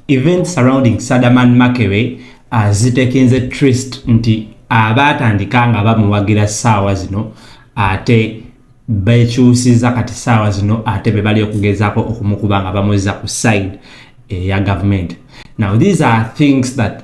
Events surrounding Sadaman Makere azitekinze uh, trist nti abaatandika nga bamuwagira ssaawa zino ate bekyusiza kati ssaawa zino ate be bali okugezaako okumukuba nga bamuzza ku side eya eh, gavumenti now these are things that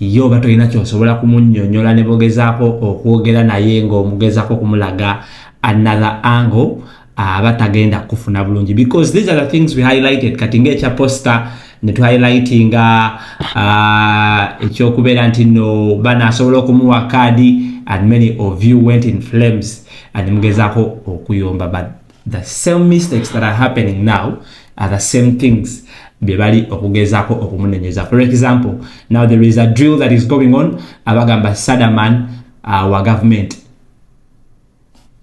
Ye oba tolina kyosobola kumunyonyola nebogezako okwogera naye nga omugezako okumulaga another angle aba tagenda kufuna bulungi because these are the things we highlighted kati nga ekya poster ne tu highlightinga uh, ekyokubeera nti no bana asobola okumuwa kaadi and many of you went in flames and mugezako okuyomba but the same mistakes that are happening now are the same things byebali okugezako okumunenyeza for example now there is a drill that is going on abagamba sadaman uh, wa government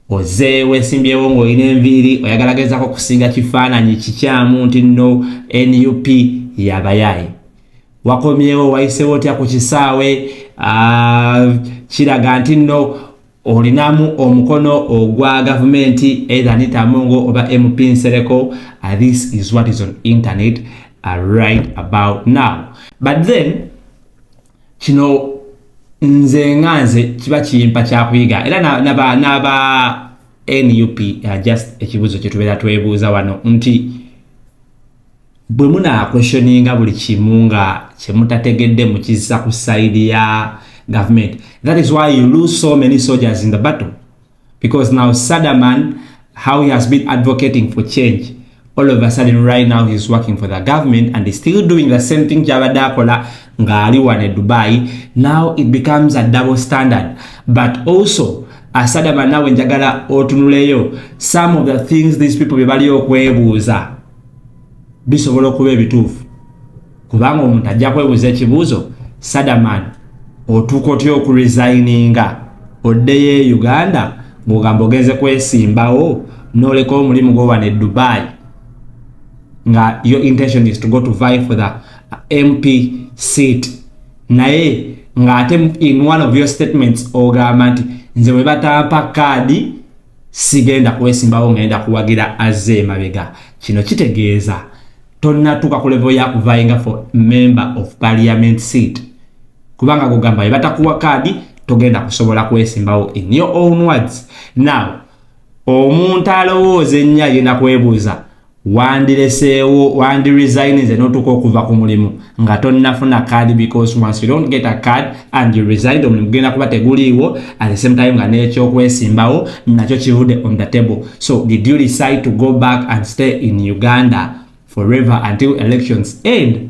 oze wesimbyewo ngaolina enviiri oyagala gezako okusinga kifaananyi kikyamu nti no nup yabayaye wakomyewo wayisewo otya ku kisaawe uh, kiraga nti no olinamu omukono ogwa gavumenti either anita mungo oba mp nsereko uh, this is what is on internet uh, right about now but then kino nze nga nze kiba kimpa kyakuyiga era naba naba nup uh, just ekibuzo kyetubeera twebuuza wano nti bwe munaakweshoninga buli kimu nga kye mutategedde mukizza ku sayidi ya gavumenti that is why you lose so many soldiers in the battle because now sadaman how he has been advocating for change all of a sudden right now he's working for the government and he's still doing the same thing kyabadde akola ngaali wane dubai now it becomes a double standard but also asadama nawe njagala otunuleyo some of the things these people bebali okwebuuza bisobola okuba ebituufu kubanga omuntu ajja kwebuuza ekibuuzo sadaman otuuka otya okuresigninga oddeyo e uganda ng'ogamba ogenze kwesimbawo n'oleka omulimu gwowana e dubai nga your intention is to go to vie for the mp seat naye ng'ate in one of your statements ogamba nti nze bwe batampa kaadi sigenda kwesimbawo ngenda kuwagira azze emabega kino kitegeeza tonnatuuka ku levo ya kuvayinga for member of parliament seat kubanga gugamba ebatakuwa kaadi togenda kusobola kwesimbawo in your own words now omuntu alowooza ennyo agenda kwebuuza wandireseewo wandi resigninze notuuka okuva ku mulimu nga tonnafuna card because once you don't get a card and you resigned omulimu gugenda kuba teguliiwo at the same time nga nekyokwesimbawo nakyo kivude on the table so did you decide to go back and stay in uganda forever until elections end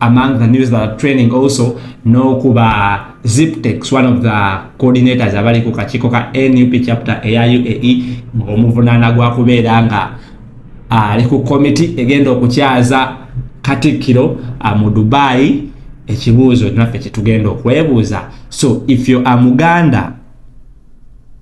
among the news that are training also n'okuba ziptex one of the coordinators abali ku kakiiko ka nup chapter eya uae ng'omuvunaana gwa kubeera nga ali ku komiti egenda okukyaza katikkiro mu dubai ekibuuzo naffe kyetugenda okwebuuza so if you are muganda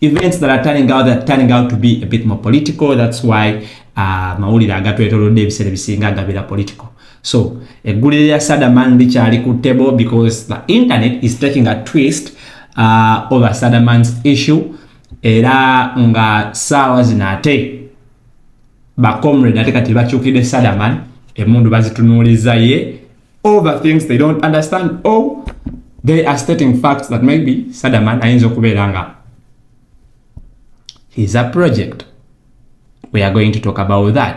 events that are turning out that turning out to be a bit more political that's why uh, mawulire agatwetolodde ebiseera ebisinga agabira political so eggulire lya sadaman likyali ku table because the internet is taking a twist uh, over sadaman's issue era nga saawa zino ate bacomrade ate kati bakyukidde sadaman emundu bazitunuuliza ye all the things they don't understand or they are stating facts that maybe Sadaman ayinza okubeera nga he's a project we are going to talk about that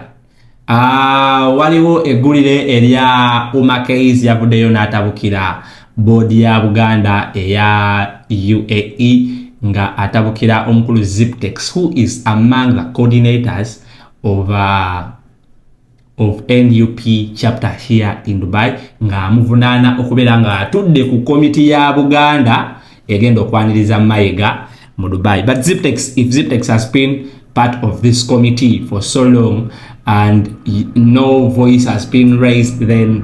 uh, waliwo eggulire erya umakais yavuddeyo n'atabukira boodi ya buganda eya uae nga atabukira omukulu ziptex who is among the coordinators of uh, of nup chapter here in dubai ng'amuvunaana okubeera ng'atudde ku komiti ya buganda egenda okwaniriza mayega mu dubai but ziptex if ziptex has been part of this committee for so long and no voice has been raised then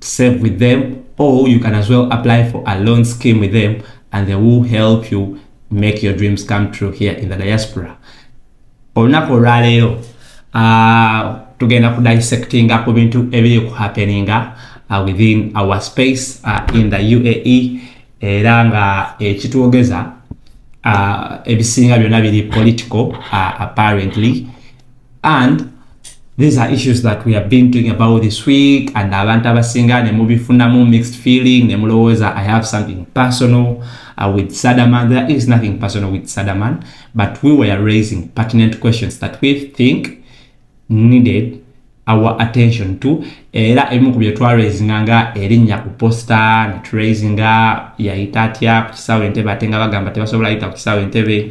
to save with them or you can as well apply for a loan scheme with them and they will help you make your dreams come true here in the diaspora olunaku olwaleero uh, tugenda ku dissectinga ku bintu ebiri ku happeninga uh, within our space uh, in the uae era nga ekitwogeza uh, ebisinga byona biri political uh, apparently and these are issues that we have been doing about this week and abantu abasinga ne mubifunamu mixed feeling ne mulowooza i have something personal uh, with sadaman there is nothing personal with sadaman but we were raising pertinent questions that we think needed our attention to era ebimu ku byetwaraisinga nga erinnya ku posta neturaisinga yayita atya ku kisaawe entebe ate nga bagamba tebasobola yita ku kisaawe entebe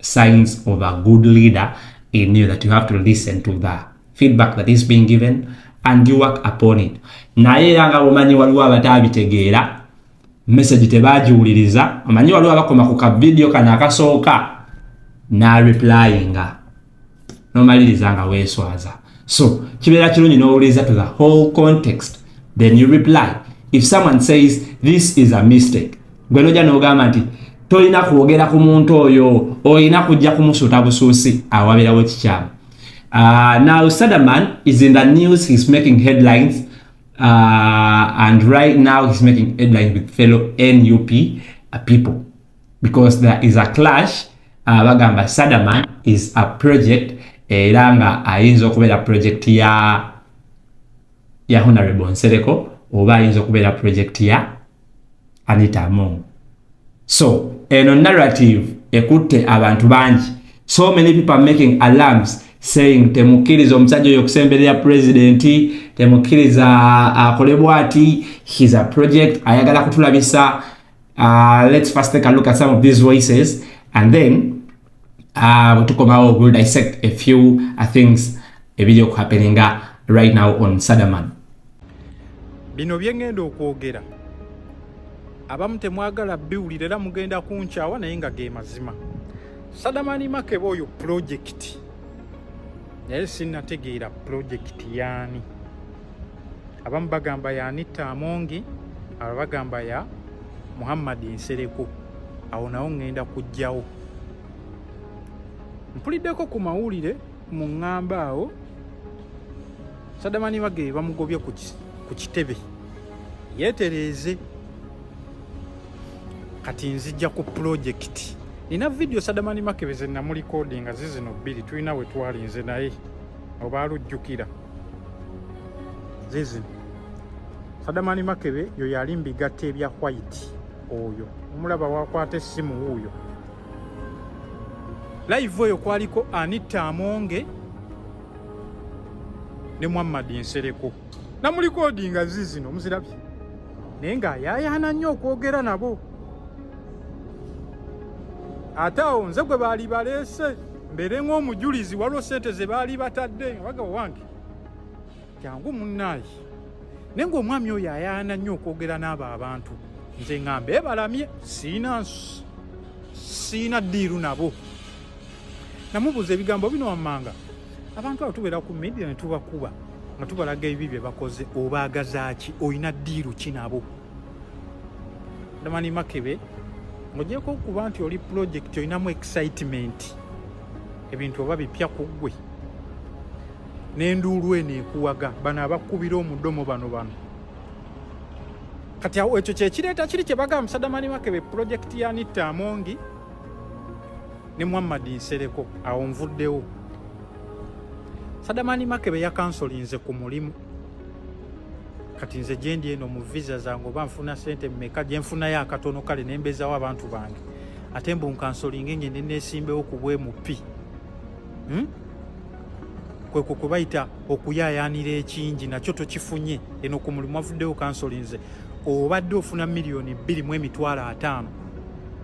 signs of a good leader in you that you have to listen to the feedback that is being given and you work upon it naye era nga bumanyi waliwo abatabitegeera message tebagiwuliriza omanyi waliwo abakoma ku kavidiyo kano akasooka n'areplyinga nomaliriza nga weswaza so kibeera kirungi nowuliriza to the whole context then you reply if someone says this is a mistake gwe noja nogamba nti tolina kwogera ku muntu oyo olina kujja kumusuuta busuusi awabirawo kikyamu uh, now sadaman is in the news he's making headlines uh, and right now he's making headlines with fellow nup uh, people because there is a clash uh, bagamba sadaman is a project era nga ayinza okubeera project ya ya honorable nsereko oba ayinza okubeera project ya anita among so eno narrative ekutte abantu bangi so many people are making alarms saying temukkiriza omusajja oyo okusemberera pulezidenti temukkiriza akole bwati his a project ayagala kutulabisa Uh, let's first take a look at some of these voices and then uh, we'll talk about, we'll dissect a few uh, things a video happening uh, right now on Sadaman. Bino byengendo okwogera abamu temwagala biwulira era mugenda kunkyawa naye nga ge mazima sadamani makeba oyo pulojekiti naye sinategeera pulojekiti yaani abamu bagamba ya anitta amongi aba bagamba ya muhammadi nsereko awo nawo ŋŋenda kujjawo mpuliddeko ku mawulire mu ŋŋamba awo sadamani bage bamugobye ku kitebe yeetereeze kati nzija ku pulojekiti nina vidiyo sadamani makebe ze namulikodinga zizino bbiri tulina we twalinze naye oba alujjukira zizino sadamani makebe yo yali mbigatta ebya white oyo omulaba wakwata essimu wuuyo live oyo kwaliko anita amonge ne muhammad nsereko namulikodinga zizino muzirabye naye ng'ayaayaana nnyo okwogera nabo ate awo nze gwe baali baleese mbeere ng'omujulizi waliwo sente ze baali batadde waga wange jangu munnaayi naye ng'omwami oyo ayaana nnyo okwogera n'abo abantu nze nga mbeebalamye siina siina ddiiru nabo namubuuza ebigambo bino wammanga abantu abo tubeera ku media ne tubakuba nga tubalaga ebibi bye bakoze obaagazaaki olina ddiiru ki nabo damani makebe ng'ogyeko okuba nti oli pulojekiti olinamu excitement ebintu oba bipya ku ggwe n'enduulu eno ekuwaga bano abakubira omudomo bano bano kati awo ekyo kyekireeta kiri kye bagamba musadamani makebe pulojekiti ya nitta amongi ne muhammad nsereko awo nvuddewo sadamani makebe yakansolinze ku mulimu kati nze gyendi eno mu visa zange oba nfuna sente mumeka gyenfunayo akatono kale nembezawo abantu bange ate mbu nkansolinge ngende nesimbewo ku bwemupi hmm? kwekwo kwe bayita okuyayanira ekingi nakyo tokifunye eno ku mulimu avuddewo kansolinze obadde ofuna miliyoni bbiri mu emitwalo ataano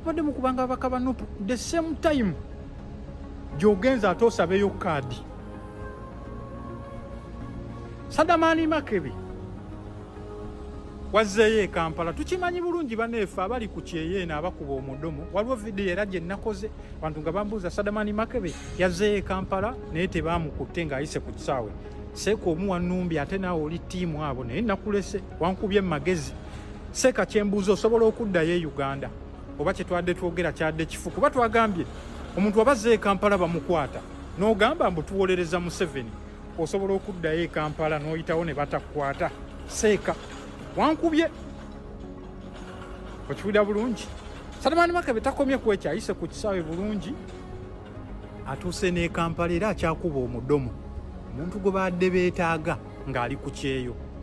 mubadde mukubanga ababaka ba nup the same time gyogenza ate osabeyo kaadi sadamaani makebe wazzeeyo ekampala tukimanyi bulungi baneefe abali ku kyeyo eno abakuba omudomo waliwo vidiyo era gye nnakoze abantu nga bambuuza sadamaani makebe yazzeeyo ekampala naye tebaamukutte ng'ayise ku kisaawe seeka omu wanumbi ate naawe oli tiimu abo naye nakulese wankubye mu magezi Seka kyembuuza osobola okuddayo e Uganda oba kyetwadde twogera kyadde kifu kuba twagambye omuntu abazze e Kampala bamukwata n'ogamba mbu tuwolereza Museveni osobola okuddayo e Kampala n'oyitawo ne batakukwata seeka wankubye okiwulira bulungi Salimani Makabe takomye kwekyayise ku kisaawe bulungi atuuse n'e Kampala era akyakuba omudomo omuntu gwe baadde beetaaga ng'ali ku kyeyo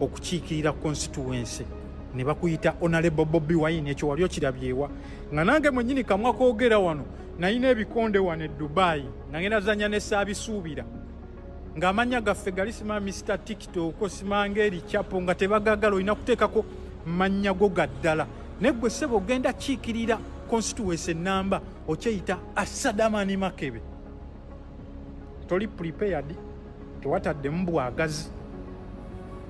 okukiikirira constituency ne bakuyita honorable bobi wine ekyo wali okirabyewa nga nange mwenyini kamwa kogera wano nalina ebikonde wano e dubayi nga ngenda zanya ne saabisuubira ng'amanya gaffe gali sima mr tiktok osimanga eri chapo nga tebagagala olina kuteekako mannya go ga ddala naye gwe ssebo ogenda kiikirira constituency enamba okyeyita asadamani makebe toli prepared tewataddemu bwagazi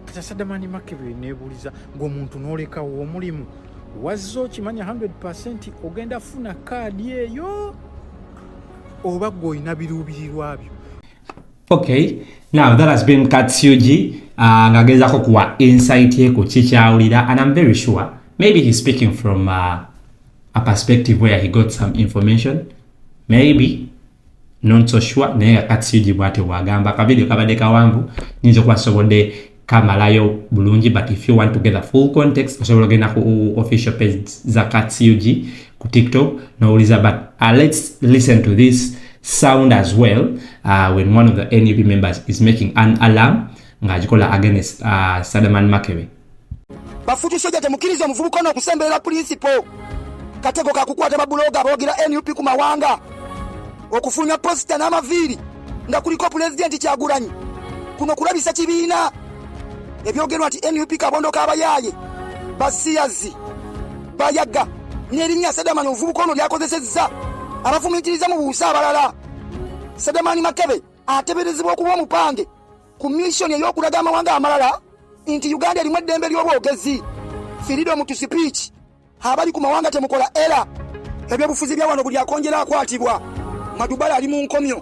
kata sadamani makebere nebuuliza ngaomuntu nolekawo omulimu wazza okimanya 100 ogenda funa kaadi eyo oba gwe olina biruubirirwa byo okay now that has been katsugi uh, ah, ngagezako kuwa insight ye ku kikyawulira and im very sure maybe he's speaking from uh, a perspective where he got some information maybe not so sure naye nga katsigi bwatyo bwagamba akavidiyo kabadde kawanvu nyinza okuba nsobodde kamalayo bulungi but if you want to get the full context osobola ogenda ku official page za katsug ku tiktok nowuliza but uh, let's listen to this sound as well uh, when one of the nup members is making an alarm ng'agikola against uh, sadaman makebe Bafutu soja temukiriza omuvubuka ono okusemberera pulinsipo. Katego kakukwata babuloga aboogera nup ku mawanga okufulumya posita n'amaviiri nga kuliko pulezidenti Kyagulanyi. Kuno kulabisa kibiina ebyogerwa nti nup kabondo k'abayaaye basiyazi bayaga n'erinnya Sedamani omuvubuka ono lyakozesezza abafumiitiriza mu buusa abalala. Sedamani Makebe ateberezebwa okuba omupange ku missioni ey'okulaga amawanga amalala nti uganda erimu eddembe ly'obwogezi freedom to speech abali ku mawanga temukola era ebyobufuzi bya wano buli akonjera akwatibwa madubala ali mu nkomyo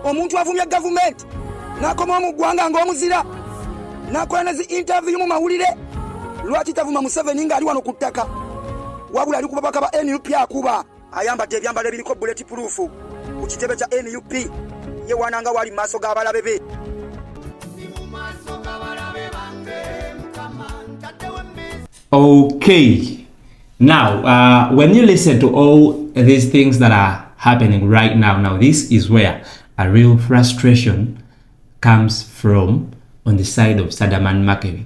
omuntu avumya gavumenti n'akoma omu ggwanga ng'omuzira n'akola ne zi intaviyu mu mawulire lwaki tavuma museveni ng'ali wano ku ttaka wabula ali ku babaka ba nup akuba ayambadde ebyambalo ebiriko buleti puluufu ku kitebe kya nup yewaana nga waali mu maaso g'abalabe be okay now uh, when you listen to all these things that are happening right now now this is where a real frustration comes from on the side of sadaman makevi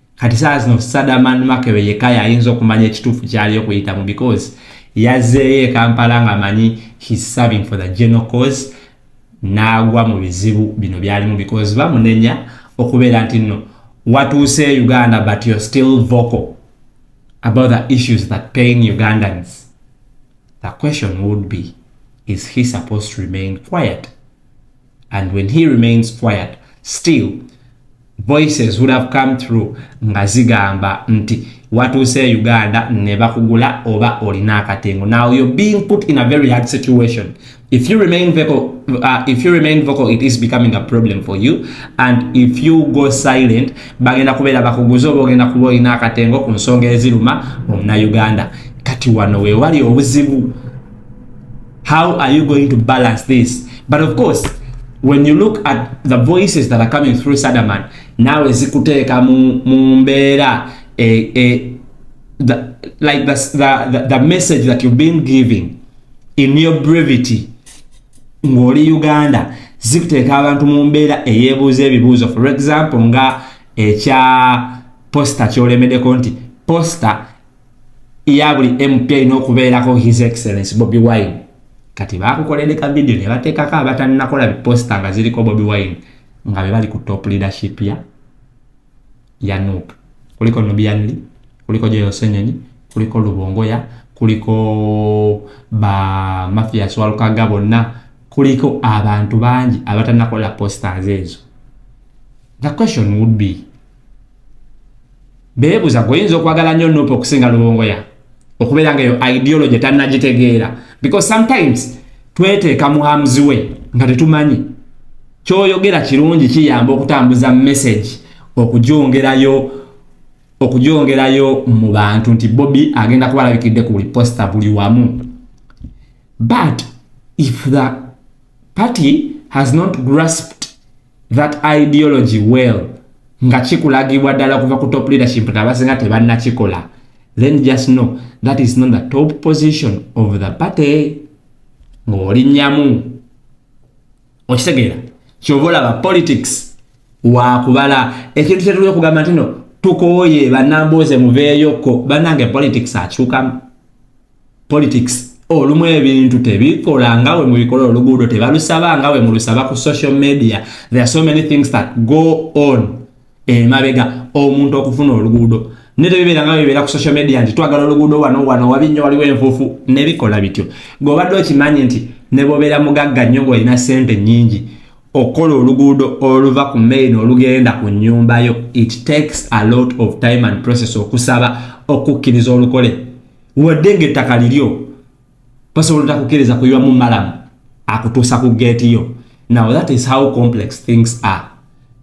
kati saa zino sadaman makebe yeka yayinza okumanya ekituufu kyali okuyitamu because yazeeyo ekampala nga manyi his serving for the general cause naagwa mu bizibu bino byalimu because bamunenya okubeera nti no watuuse uganda but you're still vocal about the issues that pain ugandans the question would be is he supposed to remain quiet and when he remains quiet still voices would have come through nga zigamba nti watuuse uganda ne bakugula oba olina akatengo now you're being put in a very hard situation if you remain vocal uh, if you remain vocal it is becoming a problem for you and if you go silent bagenda kubeera bakuguze oba ogenda kuba olina akatengo ku nsonga eziruma omunauganda kati wano wewali obuzibu How are you going to balance this? But of course, when you look at the voices that are coming through Sadaman, now is Kuteka Mumbera, eh, eh, the, like the, the, the message that you've been giving in your brevity, ngoli Uganda, zikuteeka abantu mu mbeera eyeebuuza ebibuuzo for example nga ekya posta kyolemedeko nti posta ya buli mp erina okubeerako his excellence bobi wine kati bakukolede ka vidiyo ne bateekako abatannakola biposita nga ziriko bobi wine nga be bali ku top leadership ya ya nup kuliko nubianli kuliko joyosenyonyi kuliko lubongoya kuliko ba mafias walukaga bonna kuliko abantu bangi abatannakola posters ezo the question would be beebuza gwe oyinza okwagala nnyo nup okusinga lubongoya okubeera nga eyo ideology tannagitegeera because sometimes tweteeka mu arms way nga tetumanyi kyoyogera kirungi kiyamba okutambuza message okugyongerayo okugyongerayo mu bantu nti bobi agenda kuba alabikidde ku buli posta buli wamu but if the party has not grasped that ideology well nga kikulagibwa ddala kuva ku top leadership nti abasinga tebannakikola then just know that is not the top position of the party ng'olinnyamu okitegeera kyova olaba politics wakubala ekintu kyetuli okugamba nti no tukooye banambuuze muveeyokko banange politics akyukamu politics olumu ebintu tebikola nga we mubikola oluguudo tebalusaba nga we mulusaba ku social media there are so many things that go on emabega omuntu okufuna oluguudo ne tebibeera nga bibeera ku social media nti twagala oluguudo wano wano wabi nnyo waliwo enfuufu nebikola bityo gweobadde okimanyi nti ne bobeera mugagga nnyo ngaolina sente nyingi okukola oluguudo oluva ku main olugenda ku nyumbayo it takes a lot of time and process okusaba okukkiriza olukole wadde ng'ettaka liryo basobola otakukkiriza kuyiwamu malamu akutuusa ku geeti yo now that is how complex things are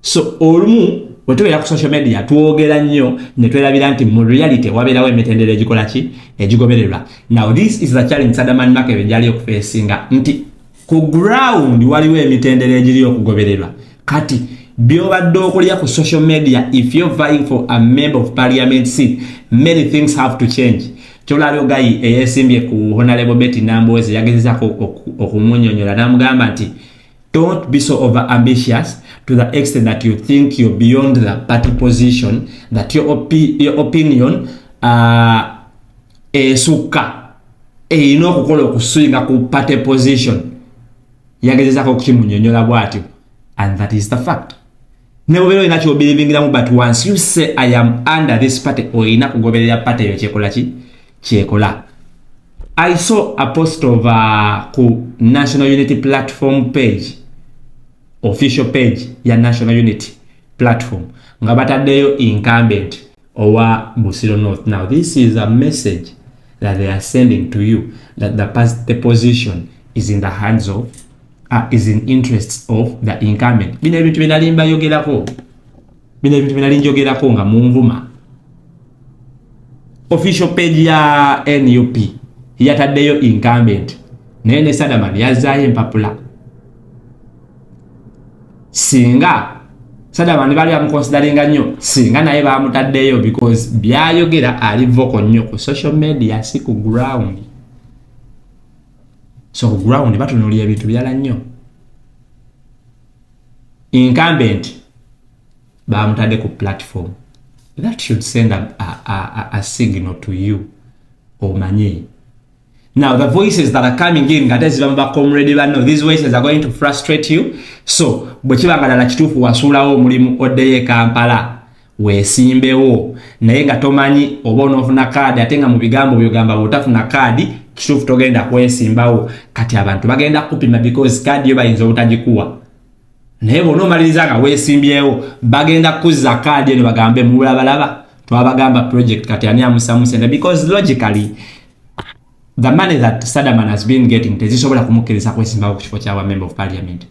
so olumu bwe tubeera ku social media twogera nnyo ne twerabira nti mu reality wabeerawo emitendera egikola ki egigobererwa now this is the challenge sadaman makebe gyali okufeesinga nti ku ground waliwo emitendera egiri okugobererwa kati byobadde okulya ku social media if you're vying for a member of parliament seat many things have to change kyolabyo gayi eyesimbye ku honalebo beti nambowezi yagezezako okumunyonyola namugamba nti don't be so over ambitious to the extent that you think you're beyond the party position that your, opi your opinion uh, esukka erina okukola okusinga ku party position yagezezako okukimunyonyola bwatyo and that is the fact nebubera olina kyobiribingiramu but once you say i am under this party olina kugoberera party eyo kyekola ki kyekola i saw a post of uh, ku national unity platform page official page ya national unity platform nga bataddeyo incumbent owa Busiro North. Now this is a message that they are sending to you that the, the position is in the hands of uh, is in interests of the incumbent. Bino ebintu binali mbayogerako, bino ebintu binali njogerako nga munvuma. Official page ya NUP yataddeyo incumbent naye ne Sadaman yazaayo empapula singa sada bandi bali amukonsidaringa nnyo singa naye bamutaddeyo because byayogera ali voko nnyo ku social media si ku ground so ku ground batunulira ebintu birala nnyo incumbent bamutadde ku platform that should send a, a, a, a signal to you omanye Now the voices that are coming in ngate ziba mu bakomrade banno these voices are going to frustrate you so bwe kiba nga ddala kituufu wasuulawo omulimu oddeyo e Kampala weesimbewo naye nga tomanyi oba onoofuna kaadi ate nga mu bigambo byogamba bwotafuna kaadi kituufu togenda kwesimbawo kati abantu bagenda kukupima because kaadi yo bayinza obutagikuwa naye bona omaliriza nga weesimbyewo bagenda kukuzza kaadi eno bagambe mubulabalaba twabagamba project kati ani amusamusente because logically the money that Sadaman has been getting tezisobola kumukkiriza kwesimbawo ku kifo kya member of parliament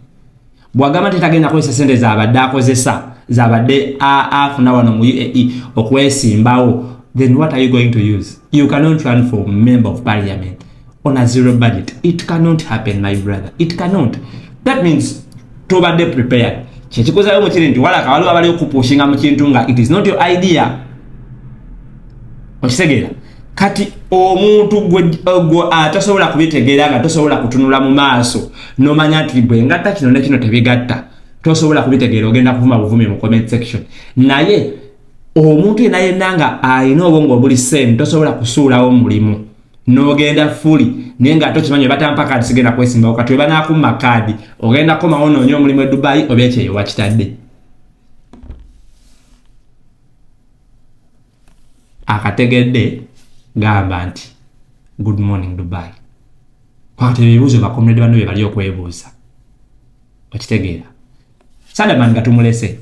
bwagamba nti tagenda kozesa sente zabadde akozesa zabadde afuna wano mu UAE okwesimbawo then what are you going to use you cannot run for member of parliament on a zero budget it cannot happen my brother it cannot that means tobadde prepared kyekikozayo mukiri nti walaka waliwo abali okupushinga mu kintu nga it is not your idea okitegeera kati omuntu gwe atasobola kubitegeera nga tosobola kutunula mu maaso nomanya nti bwe ngatta kino nekino tebigatta tosobola kubitegeera ogenda kuvuma buvumi mu comment section naye omuntu yena yenna nga alina obwongo obuli same tosobola kusuulawo mulimu nogenda fuli naye nga tokimanyi batampa kaadi sigenda kwesimbawo kati webanakumma kaadi ogenda komawo noonya omulimu e dubayi oba ekyeyo wakitadde akategedde gamba nti good morning dubai kwata ebibuuzo bakomrade banno bye bali okwebuuza okitegeera sadaman nga tumulese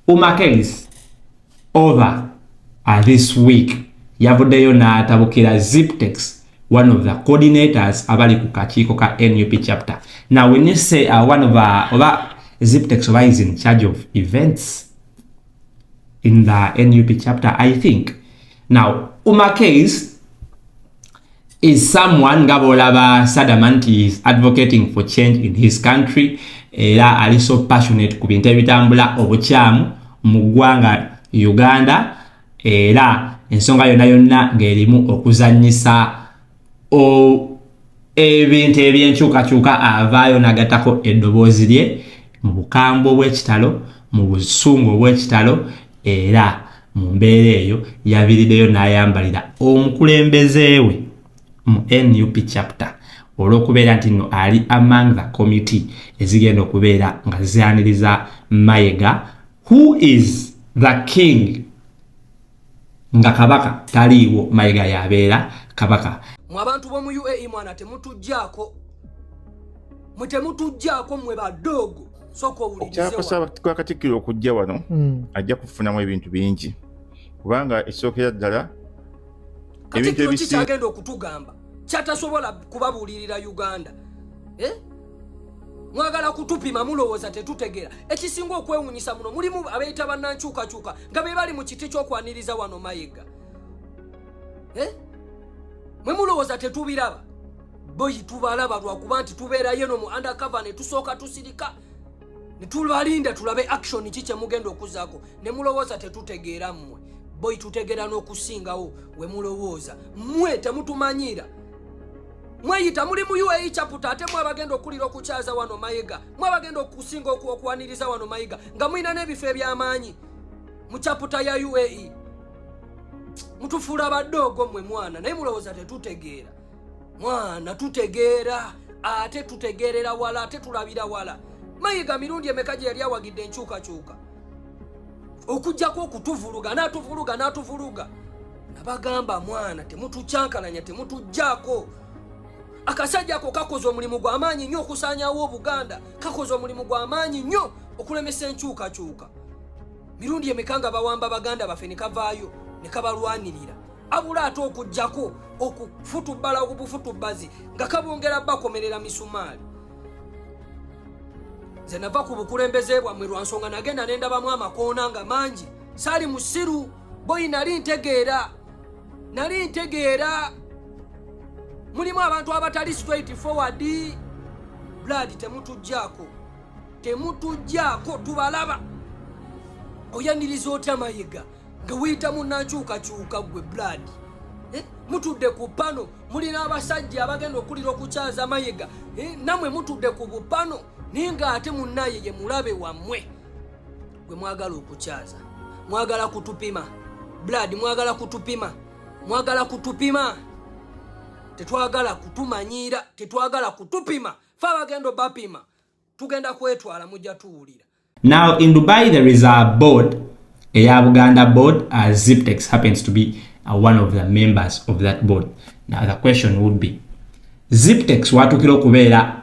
umakelis over uh, this week yavuddeyo n'atabukira ziptex one of the coordinators abali ku kakiiko ka nup chapter now when you say uh, one of uh, oba ziptex oba is in charge of events in the nup chapter i think now uma case is someone nga bolaba sadama nti is advocating for change in his country era ali so passionate ku bintu ebitambula obukyamu mu ggwanga uganda era ensonga yonna yonna ng'erimu okuzanyisa ebintu ebyenkyukakyuka avaayo nagatako eddoboozi lye mu bukambwe obw'ekitalo mu busungu obw'ekitalo era mu mbeera eyo yavirideyo n'ayambalira omukulembeze we mu nup chapter olw'okubeera nti nno ali among the committee ezigenda okubeera nga zianiriza mayega who is the king nga kabaka taliiwo mayiga yabeera kabaka mu abantu b'omu uae mwana temutujjaako mwe temutujjaako mwe badoogo okyakwasaba kwa katikkiro okujja wano hmm. ajja kufunamu ebintu bingi kubanga ekisookera ddala ebintu ebikyagenda okutugamba kyatasobola kubabuulirira uganda eh? mwagala kutupima mulowooza tetutegeera ekisinga okwewunyisa muno mulimu abeeyita bannankyukakyuka nga be bali mu kiti ky'okwaniriza wano mayega eh? mwe mulowooza tetubiraba boyi tubalaba lwakuba nti tubeerayo no mu undercover ne tusooka tusirika ne tubalinda tulabe action ki kye mugenda okuzaako ne mulowooza tetutegeera mmwe boyi tutegeera n'okusingawo we mulowooza mmwe temutumanyiira mweyita muli mu uae chaputa ate mwabagenda okukulira okukyaza wano mayiga mwabagenda okusinga okuwaniriza wano mayiga nga mulina n'ebifo eby'amaanyi mu chaputa ya uae mutufuula abadoogo mwe mwana naye mulowooza tetutegeera mwana tutegeera ate tutegeerera wala ate tulabira wala mayiga mirundi emeka gye yali awagidde enkyukakyuka okujjako okutuvuluga n'atuvuluga n'atuvuluga nabagamba mwana temutukyankalanya temutujjaako akasajja ako kakoze omulimu gwa maanyi nnyo okusaanyawo obuganda kakoze omulimu gwa maanyi nnyo okulemesa enkyukakyuka mirundi emeka nga bawamba baganda baffe ne kavaayo ne kabalwanirira abula ate okujjako okufutubbala obufutubbazi nga kabongera bakomerera misumaali nze nava ku bukulembeze bwammwe lwa nsonga nagenda ne ndabamu amakoona nga mangi saali musiru boyi nali ntegeera nali ntegeera mulimu abantu abatali straight forward blood temutujjaako temutujjaako tubalaba oyaniriza otya mayega nga weyita munankyukakyuka gwe blood eh, mutudde ku pano mulina abasajja abagenda okulira okukyaza mayega eh, namwe mutudde ku bupano naye nga ate munaye ye mulabe wammwe gwe mwagala okukyaza mwagala kutupima blood mwagala kutupima mwagala kutupima tetwagala kutumanyiira tetwagala kutupima fe abagenda obapima tugenda kwetwala mujja tuwulira Now in Dubai there is a board, Eya Buganda board, uh, Ziptex happens to be uh, one of the members of that board. Now the question would be, Ziptex watukira okubeera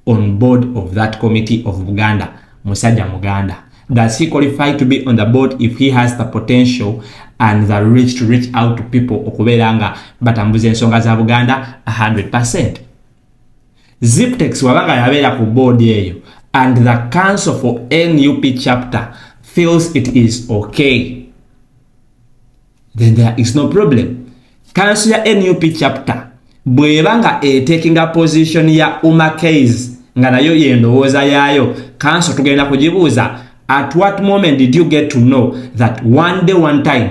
on board of that committee of Buganda, Musaja Muganda. Does he qualify to be on the board if he has the potential and the reach to reach out to people okubeera nga batambuza ensonga za Buganda 100%? ziptex waba nga yabeera ku board eyo and the council for nup chapter feels it is okay then there is no problem council ya nup chapter bweba nga etekinga position ya umakeys nga nayo yendowooza yaayo council tugenda kugibuuza at what moment did you get to know that one day one time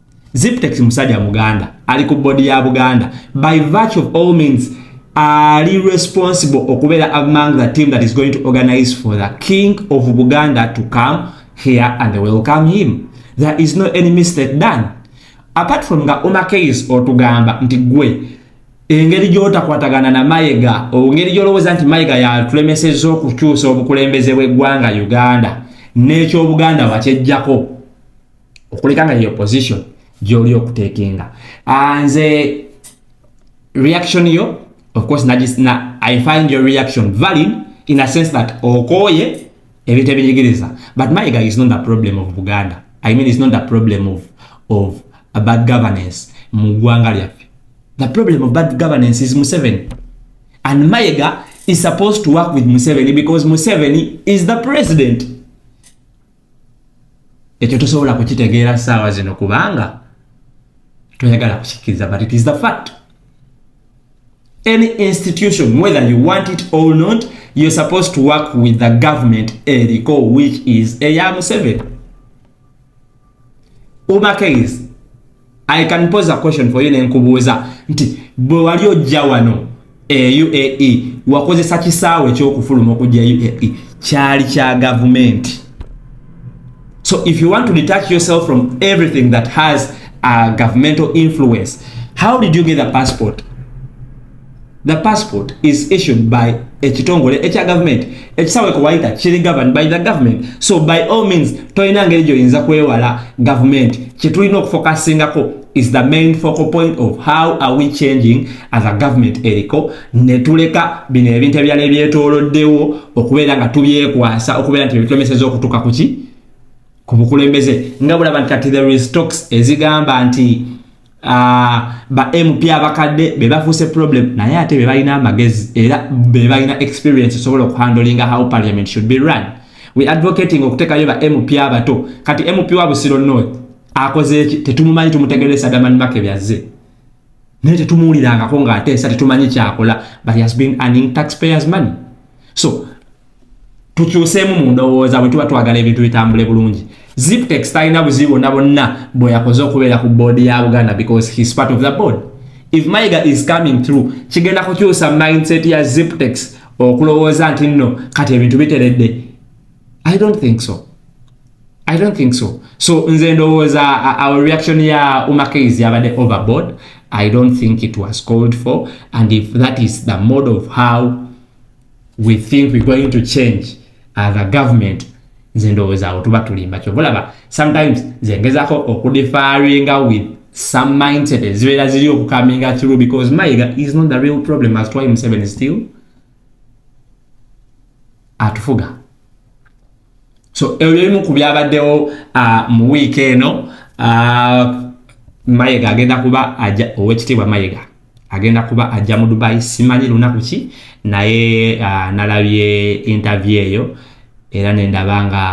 Ziptex musajja muganda ali ku body ya Buganda by virtue of all means ali responsible okubeera among the team that is going to organize for the king of Buganda to come here and welcome him there is no any mistake done apart from nga Omar Keyes otugamba nti gwe engeri gyotakwatagana na Mayega ongeri gyolowooza nti Mayega yatulemeseza okukyusa obukulembeze bw'eggwanga Uganda n'ekyobuganda wakyejjako okuleka nga yeyo position gyoli okutekenga ah, nze reaction yo of course na, na, i find your reaction valid in a sense that okoye ebintu ebinyigiriza but my guy is not the problem of buganda i mean is not the problem of, of a bad governance mu ggwanga lyaffe the problem of bad governance is museveni and mayega is supposed to work with museveni because museveni is the president ekyo tosobola kukitegeera saawa zino kubanga toyagala kukikkiriza but it is the fact any institution whether you want it or not you're supposed to work with the government eriko which is eya museveni umakeizi i can pose a question for you nenkubuuza nti bwe wali ojja wano e uae wakozesa kisaawe ekyokufuluma okujja uae kyali kya gavumenti so if you want to detach yourself from everything that has a governmental influence how did you get a passport The passport is issued by ekitongole ekya government ekisawe kuwayita kiri governed by the government so by all means tolina ngeri gyoyinza kwewala government kyetulina okufokasingako is the main focal point of how are we changing as a government eriko netuleka bino ebintu ebirala ebyetoloddewo okubeera nga tubyekwasa okubeera nti ebitulemeseza okutuka kuki ku bukulembeze nga bulaba nti kati the restox ezigamba nti Ah, ba MP abakadde be bafuuse problem naye ate be balina amagezi era be balina experience sobola okuhandlinga how parliament should be run we advocating okutekayo ba MP abato kati MP wa Busiro North akoze eki tetumumanyi tumutegeresa Daman Make byazze naye tetumuwulirangako ng'ateesa tetumanyi kyakola but he has been earning taxpayers money so tukyuseemu mu ndowooza bwe tuba twagala ebintu bitambule bulungi ziptex talina buzibu bonna bonna bwe yakoze okubeera ku boodi ya buganda because his part of the board if maiga is coming through kigenda kukyusa mindset ya ziptex okulowooza nti nno kati ebintu biteredde i don't think so i don't think so so nze ndowooza our reaction ya umakeiz yabadde overboard i don't think it was called for and if that is the mode of how we think we're going to change as a government nze ndowooza awo tuba tulimba kyova olaba sometimes nze ngezako okudifaringa with some mindset ezibeera ziri okukaminga through because mayiga is not the real problem as twy museven still atufuga so ebyo bimu ku byabaddewo uh, mu wiiki eno uh, mayega agenda kuba aja owekitiibwa mayega agenda kuba ajja mu dubai simanyi lunaku ki naye uh, nalabye interview eyo era nendaba nga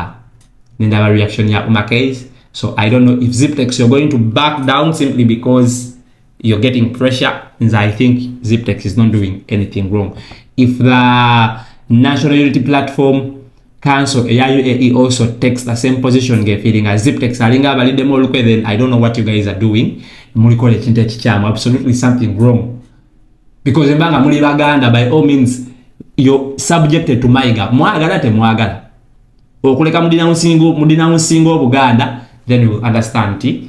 nendaba reaction ya umakase so i don't know if ziptex you're going to back down simply because you're getting pressure nze i think ziptex is not doing anything wrong if the national unity platform council eya uae also takes the same position ngefeeling as ziptex alinga abaliddemu olukwe then i don't know what you guys are doing mulikola ekintu ekikyamu absolutely something wrong because embanga muli baganda by all means you're subjected to maiga mwagala temwagala okuleka mudinawunsinga obuganda then you understand ti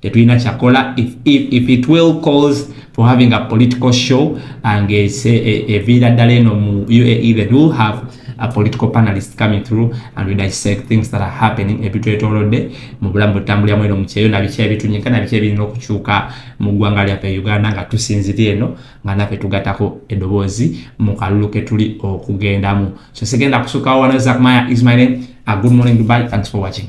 tetulina kyakola if, if, if it will cause for having a political show ngeviira eh, eh, ddala eno mu uae that will have a political panelist coming through and we dissect things that are happening ebitwetolodde mu bulamu butambuliramu eno mukyeyo nabiki ebitunyika nabiki ebirina okukyuka mu ggwanga lyaffe e uganda nga tusinzira eno nga naffe tugatako edoboozi mu kalulu ketuli okugendamu so sigenda kusukawo wano zakmaya ismail a good morning dubai thanks for watching